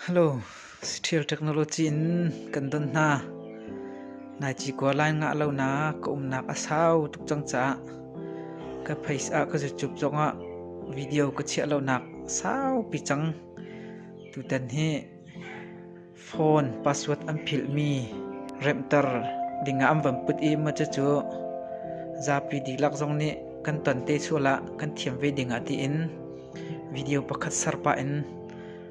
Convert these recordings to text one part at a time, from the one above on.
Hello, ṭhial technology in kan don hna. Nai ci kua line ngah lo na ka umnak a sau tuk cang caah ka phais ah ka zucup zongah video ka chiah lo nak saupi cang. Tutan hi phone password an philhmi remter dingah an van put i maca cu zapi dihlak zong nih kan ton te sual ah kan thiam ve dingah tiin video pakhat serpah in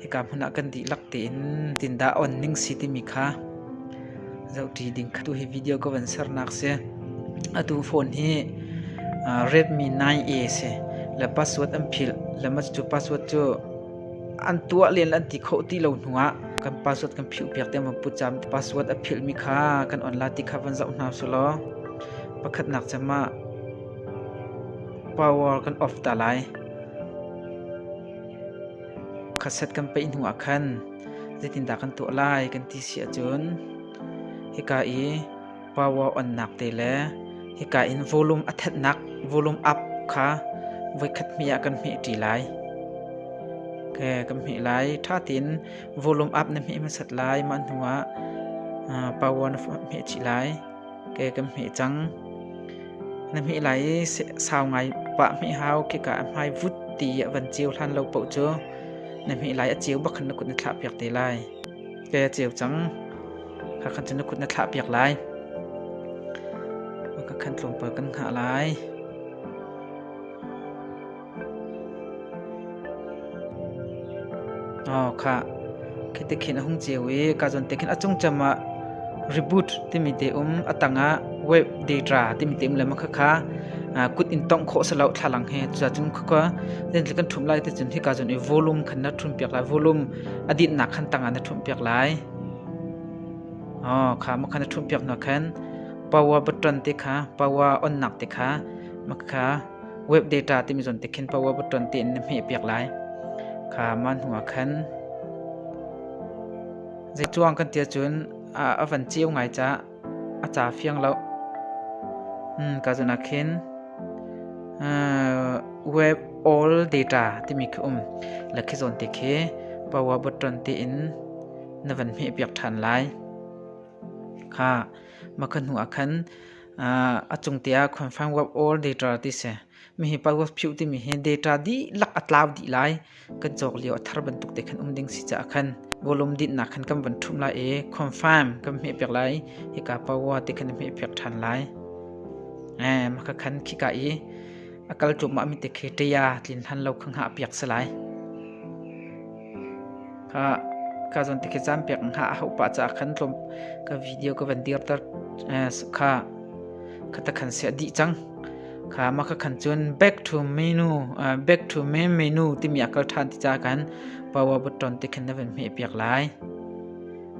hika hmun ah kan dihlak tein tindah on ning si timi kha zohṭi ding kha tu hi video ka van sernak si atu phone hi Redmi 9A si le password an philh lema cu password cu an tuah len an ti kho ti lo hnu ah kan password kan philh piak te ma pu cham password a philh mi kha kan online ti kha van zoh hna su law pakhat nak chama power kan off ta lai khaset kan peih hnu ah khan zeitindah kan tuah lai kan ti si ahcun hika i power onnak te le hika in volume a thennak volume up kha voikhat hme ah kan hme ṭi lai okay, kan hme lai ṭha tein volume up na hme hmasat lai mah hnuah power na hme chih lai ke kan hmeh cang. Na hmeh lai i sau ngai pah hmeh hau kika a hmai vut ti a van ciu hlan lo poh cu na hmeh lai a ciu bakhan na kut na thlah piak te lai. Ke a ciu cang. Kha khan cu na kut na thlah piak lai. Ka khan tlawmpal kan hna lai. Khah, khiti khin a hung ceu i kazon te khin a cungcam ah reboot timi te um, a tang ah wave data timi te um le ma khakha kut in tongh khawh salo thlalang he cucun khakha den thil kan thum lai te cun hi kazon i volume khan na thum piak lai volume adit nak khan tang ah na thum piak lai oh kha ma khan na thum piak na khan power button te kha power on nak te kha ma kha web data timi zon te khin pa wa button ti in na hme piak lai kha man hua khan zai chuang kan tia chun a van chiu ngai cha a cha fiang lo hmm ka zona khin web all data timi khi um lakhi zon te khi power button ti in na van hme piak than lai kha makhan hua khan A cungte ah confined web or data ti si. Mihi password phiuh timi hi data dihlak a tlau dih lai. Kan cawk lio a thar bantuk te khan um ding si caah khan volume dinhnak khan kan van thum lai i confirm kan hmeh pek lai. Hika power te khan hmeh pek ṭhan lai. Maka khan khika i a kal ṭumah mi te khi ṭaya tlin hlan lo khang ha piak salai. Kha cun ti khi caanpiak hna a hauh pah caah khan tlawm ka video ka van dirter kha kha ta khan siah dih cang. Kha ma ka khan cun back to menu back to main menu timi a kal ṭhan ti ca khan power button ti khan na van hmeh piak lai.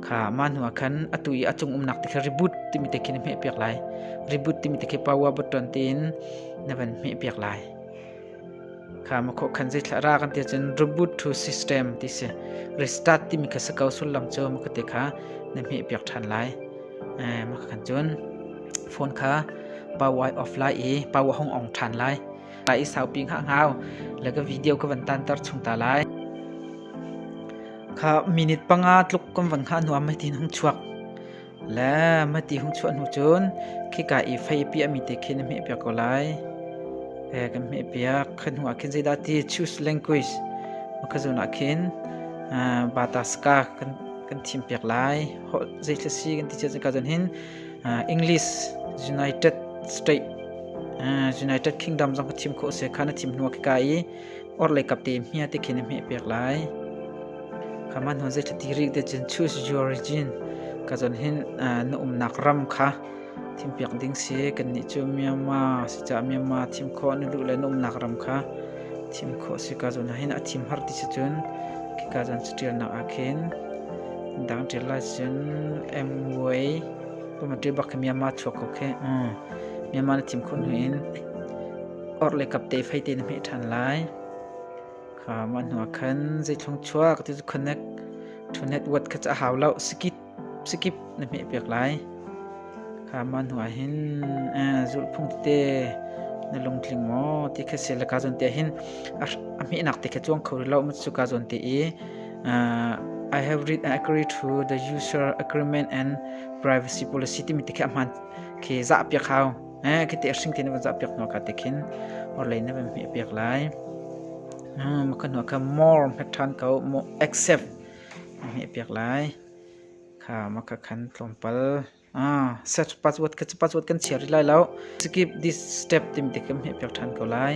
Kha ma hnu ah khan atu i a cung umnak ti khan reboot timi te khin hmeh piak lai. Reboot timi te khi power button tiin na van hmeh piak lai. kha makhaw khan zeithla ra kan ti cun reboot to system ti si restart timi kha sakau sullam cu maka te kha na hme piak ṭhan lai maka khan cun phone kha power off lai i power hong ong ṭhan lai lai i saupi ngha ngau laga video ka van tan tar chung ta lai kha minute panga tluk kan van kha nuam mai tin hong chuak Le mati hung chuah hnu cun khika i feipi a mi te khi na hmehpiak ko lai. E, kan hmehpiak. Khan hnuah khin zeidah ti choose language makazun ah khin bataska kan kan thimpiak lai. Hol zei thla si kan ti chia ka zon hin English United States United Kingdom zong ka thim kho se kha na thim hnuah khika i orlei kap te hmia te khin hme pek lai kaman hon zet ti rik de chen choose your region ka zon hin na umnak ram kha thim piak ding si kan ni chu Myanmar si cha Myanmar thim kho na lu le na umnak ram kha thim kho si ka zon hin a thim har ti si chun ki ka zon tial nak a khin dang tial lai sin MY tu ma ti bak Myanmar chua ko khe Myanmar na thim khun hin Or le kapte fai te na hmeh ṭhan lai. Kha mah hnuah khan zeithlung chuak ti cu connect to network kha ca hau lo skip skip na hmeh piak lai. Kha mah hnuah hin zulhphung te na lungtling maw ti kha si la ka zon te hin a hmehnak te kha chuang kho lo mu chu ka zon te i I have read and agree to the user agreement and privacy policy ti mi te kha hman ke za piak hau. Kiti a hring ti na van zah piak hnuah ka te khin orlei na van hmeh piak lai. Maka hnuah kha more hmet ṭhan ko more accept hmeh piak lai. Kha maka khan tlawmpal set password kha password kan chia rih lai lo. Skip this step tim te kan hmeh piak ṭhan ko lai.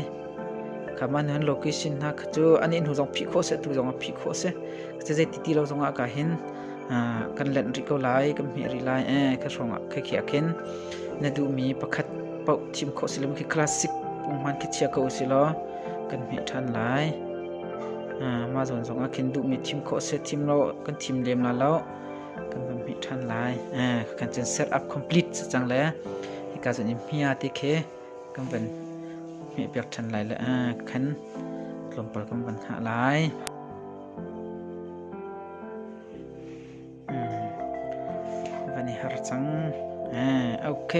Kha ma hnuan location hna kha cu ani hnu zong phih khawh se tu zong a phih khawh se. Kha cu zei titi lo zongah ka hin kan lenh rih ko lai, kan hmeh rih lai, eh, ka hrawng ah khekhe ah khin na duhmi pakhat paoh thim khawh si lo, khi classic pungman khi chia ko si law kan hmeh ṭhan lai. Mah zawn zong ah khin duhmi thim khawh si, thim lo kan thim lem la lo, kan van hmeh ṭhan lai. Kan cun set up complete si cang le hika zon i hmia te khi kan van hmeh piak ṭhan lai le kan tlawmpal kan van hah lai. Van i har cang. Ok.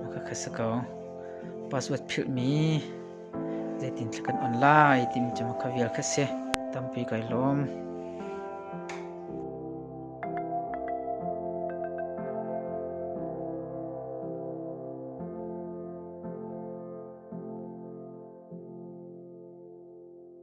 Maka kha sa ko. Password philhmi zeitin thla kan on lai timi cu maka vial kha si. Tampi kai lawm.